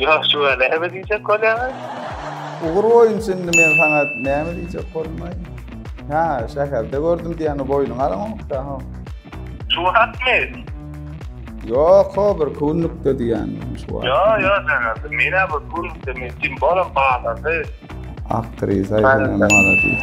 Ýok şuwagt näme diýjek bolýaňyz? Ugur boýunça indi men saňa näme diýjek bolmaý. Hä, şäherde gördüm diýýäňi boýnuňa alaňok da ho. Şuwagtmy? Ýok ho bir kunlukda diýýänim şuwagt. Ýok ýok şäherde menä bir kunlukda men kim bolam bazarda. Aktrisa ýene maladis.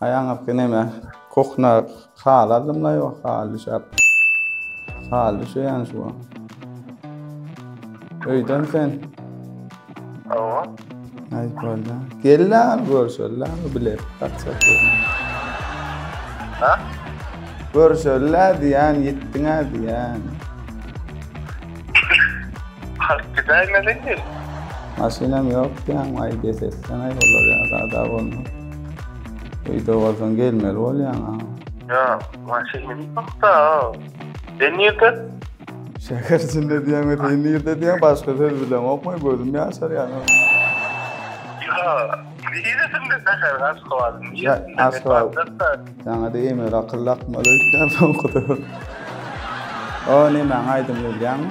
Aýaňyzky näme? Kuhna hal adamlar ýok, hal düşäp. Hal düşýän şu. Öýden sen. Hawa. Aýt bolda. Gel-la, görüşelim-la, bilet taksak. Ha? Görüşelim-la diýän, ýetdiň-ä diýän. Halk gidäýmeli. Maşynam ýok diýän, aý, getirsen aý, olar ýa-da bolmaz. Öýde bolsaň gelmeli bolýaň a. Ýa, maşyn meniň hakda. Sen nirde? Şäher içinde diýýäň we sen nirde diýýäň başga söz bilemok men gözüm ýaşarýar. Ýa, niresinde şäheriň Aşgabadyň niresinde? Aşgabat. Saňa diýme akyl akmaly öýtýän soňky döwür. O nemäň aýdymyny bilýäňmi?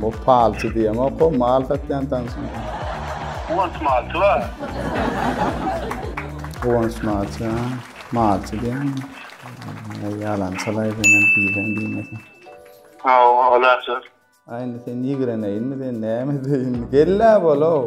Bu palçy diýemok o mal satýan tanşym. Guwanç malçy ba. Guwanç malçy ha. Malçy diýen. Ýalan çalay diýen diýen diýmesin. Aw, olarçy. Aýny sen ýigreneýinmi sen näme deýin. Gella bol ow.